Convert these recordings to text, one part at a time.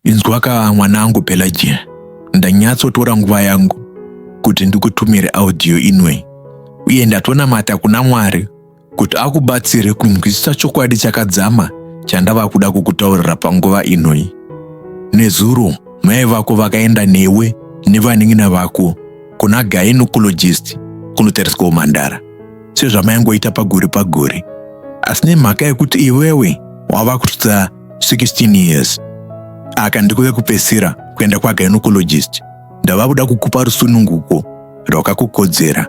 Inzwaka mwanangu Pelagia, ndanyatsotora nguva yangu kuti ndikutumire audio inoi uye ndatonamata kuna Mwari kuti akubatsire kunzwisisa chokwadi chakadzama chandava kuda kukutaurira panguva inoi. Nezuro mai vako vakaenda newe nevanin'ina vako kuna gynecologist kunotariswa umhandara. sezvamaingoita pagore pagore asi nemhaka yekuti iwewe wava kusvitsa 16 years aka ndikuve kupesera kuenda kwaginocologist ndava kuda kukupa rusununguko rwakakukodzera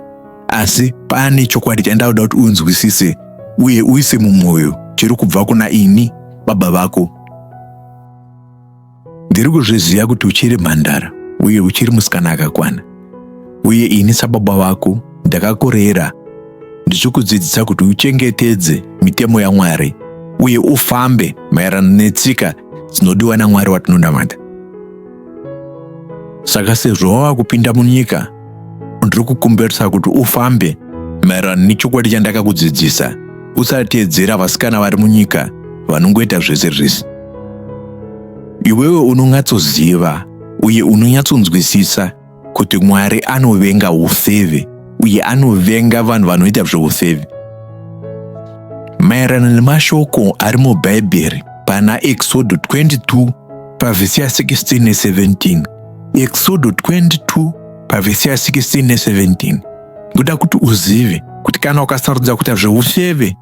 asi pane chokwadi chandauda kuti unzwisise uye uise mumwoyo chiri kubva kuna ini baba vako Ndiri kuzviziva kuti uchiri mhandara uye uchiri musikana akakwana, uye ini sababa vako ndakakurera ndichikudzidzisa kuti uchengetedze mitemo yaMwari uye ufambe maererano netsika dzinodiwa naMwari watinonamata. Saka sezvo wava kupinda munyika ndiri kukumbirisa kuti ufambe maererano nechokwadi chandakakudzidzisa usateedzera vasikana vari munyika vanongoita zvese zvese iwewe unonyatsoziva uye unonyatsonzwisisa kuti mwari anovenga ufeve uye anovenga vanhu vanoita zveufeve maererano nemashoko ari mubhaibheri pana exodo 22 pavhisi ya 16 ne 17 Eksodo 22 pavhesi ya 16 ne 17 ndoda kuti uzive kuti kana ukasarudza kuita zveufeve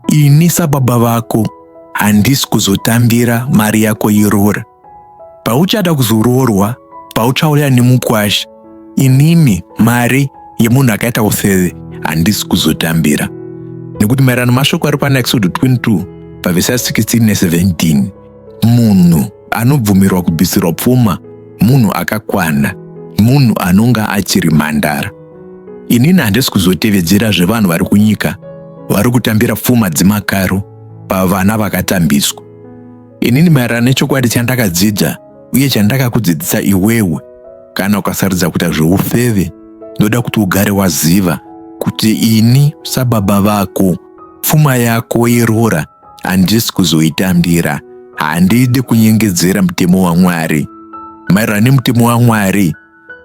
ini sababa vako handisi kuzotambira mari yako yeroora pauchada kuzoroorwa pauchauya nemukwasha inini mari yemunhu akaita ufeve handisi kuzotambira nekuti maererano mashoko ari pana exodo 22 pavhesi ya 16 ne 17 munhu anobvumirwa kubvisirwa pfuma munhu akakwana munhu anonga achiri mhandara inini handisi kuzotevedzera zvevanhu vari kunyika vari kutambira pfuma dzemakaro pavana vakatambiswa inini maererano nechokwadi chandakadzidza uye chandakakudzidzisa iwewe kana ukasarudza kuita zveufeve ndoda kuti ugare waziva kuti ini sababa vako pfuma yako yeroora handisi kuzoitambira handidi kunyengedzera mutemo wamwari maererano nemutemo wamwari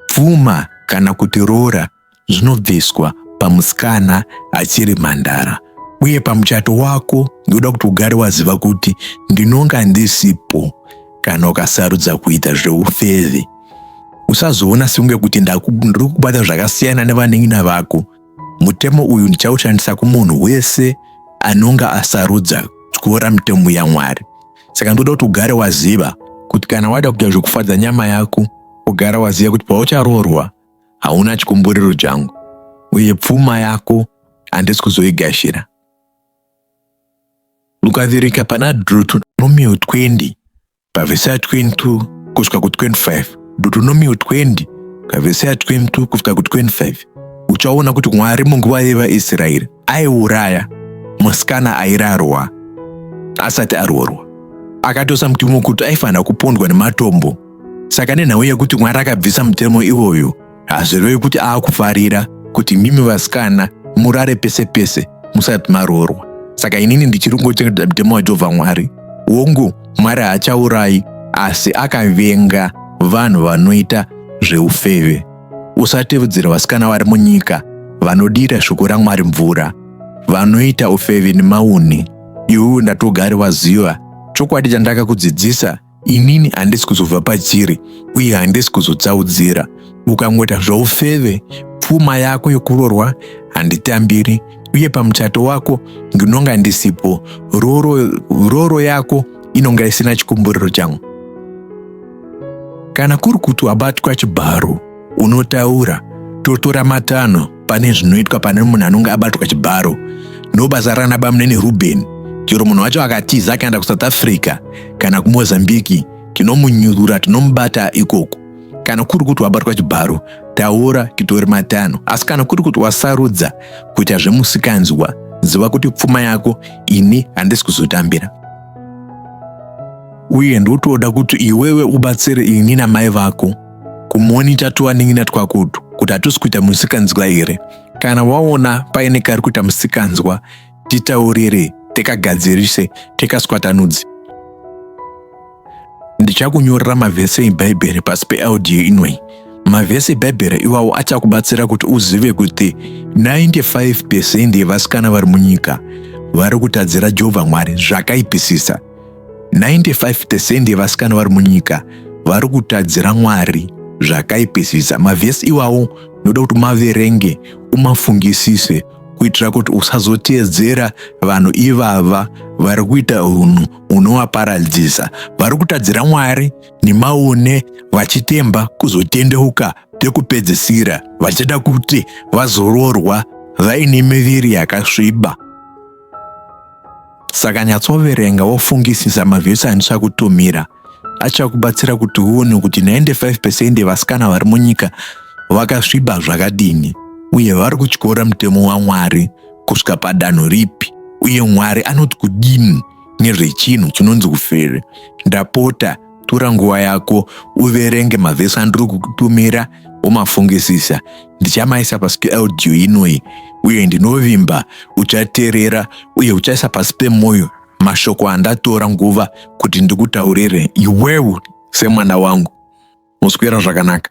pfuma kana kuti roora zvinobviswa pamusikana achiri mhandara uye pamuchato wako ndinoda kuti ugare waziva kuti ndinonga ndisipo kana ukasarudza kuita zveufeve usazoona sekunge kuti ndiri kubata zvakasiyana nevanin'ina vako Mutemo uyu ndichaushandisa kumunhu wese anonga asarudza kutyora mitemo yaMwari. Saka ndoda kuti ugare waziva kuti kana wada kuita zvekufadza nyama yako, ugara waziva kuti paucharoorwa hauna chikumburiro changu, uye pfuma yako handisi kuzoigashira. Luka Dhirika pana Deuteronomio 20 pavhesi ya 22 kusvika ku 25 Deuteronomio 20 pavhesi ya 22 kusvika ku 25 uchaona kuti Mwari munguva yevaIsraeri aiuraya musikana airarwa asati aroorwa akatosa mutemo kuti aifanira kupondwa nematombo saka nenhau yekuti mwari akabvisa mutemo iwoyo hazvirevi kuti aakufarira kuti mimi vasikana murare pese pese musati maroorwa saka inini ndichiri kungochengeta mutemo wajehovha mwari wongu mwari haachaurayi asi akavenga vanhu vanoita zveufeve usatevedzera vasikana vari munyika vanodira shoko ramwari mvura vanoita ufeve nemauni iwewe ndatogari waziva chokwadi chandakakudzidzisa inini handisi kuzobva pachiri uye handisi kuzotsaudzira ukangoita zvoufeve pfuma yako yokurorwa handitambiri uye pamuchato wako ndinonga ndisipo roro, roro yako inonga isina chikumburiro changu kana kuri kuti wabatwa chibharo unotaura totora matanho pane zvinoitwa pane munhu anonge abatwa chibharo ndobasa rana bamunini rubeni chero munhu wacho akatiza akaenda kusouth africa kana kumozambiki tinomunyurura tinomubata ikoko kana kuri kuti wabatwa chibharo taura titori matano asi kana kuri kuti wasarudza kuita zvemusikanzwa ziva kuti pfuma yako ini handisi kuzotambira uye ndotoda kuti iwewe ubatsire ini namai vako kumonita tuwanin'ina twakutu kuti hatusi kuita musikanzwa here kana waona paine kari kuita musikanzwa titaurire tikagadzirise tikaswatanudze ndichakunyorera mavhese ebhaibheri pasi peaudio inoi mavhese ebhaibheri iwawo achakubatsira kuti uzive kuti 95 pesendi yevasikana vari munyika vari kutadzira jehovha mwari zvakaipisisa 95 percent yevasikana vari munyika vari kutadzira mwari zvakaipisisa mavhesi iwawo noda kuti maverenge umafungisise kuitira kuti usazoteedzera vanhu ivava vari kuita unhu unovaparadzisa vari kutadzira mwari nemaone vachitemba kuzotendeuka pekupedzisira vachida kuti vazororwa vaine miviri yakasviba Saka nyatsoverenga wofungisisa mavhesi andichakutumira achakubatsira kuti uone kuti 95 percent yevasikana vari munyika vakasviba zvakadini uye vari kutyora mutemo waMwari kusvika padanho ripi uye Mwari anoti kudini nezvechinhu chinonzi ufeve. Ndapota tora nguva yako uverenge mavhesi andiri kukutumira womafungisisa ndichamaisa pasi peaudio inoi uye ndinovimba uchaterera uye uchaisa pasi pemwoyo mashoko andatora nguva kuti ndikutaurire iwewe semwana wangu muswera zvakanaka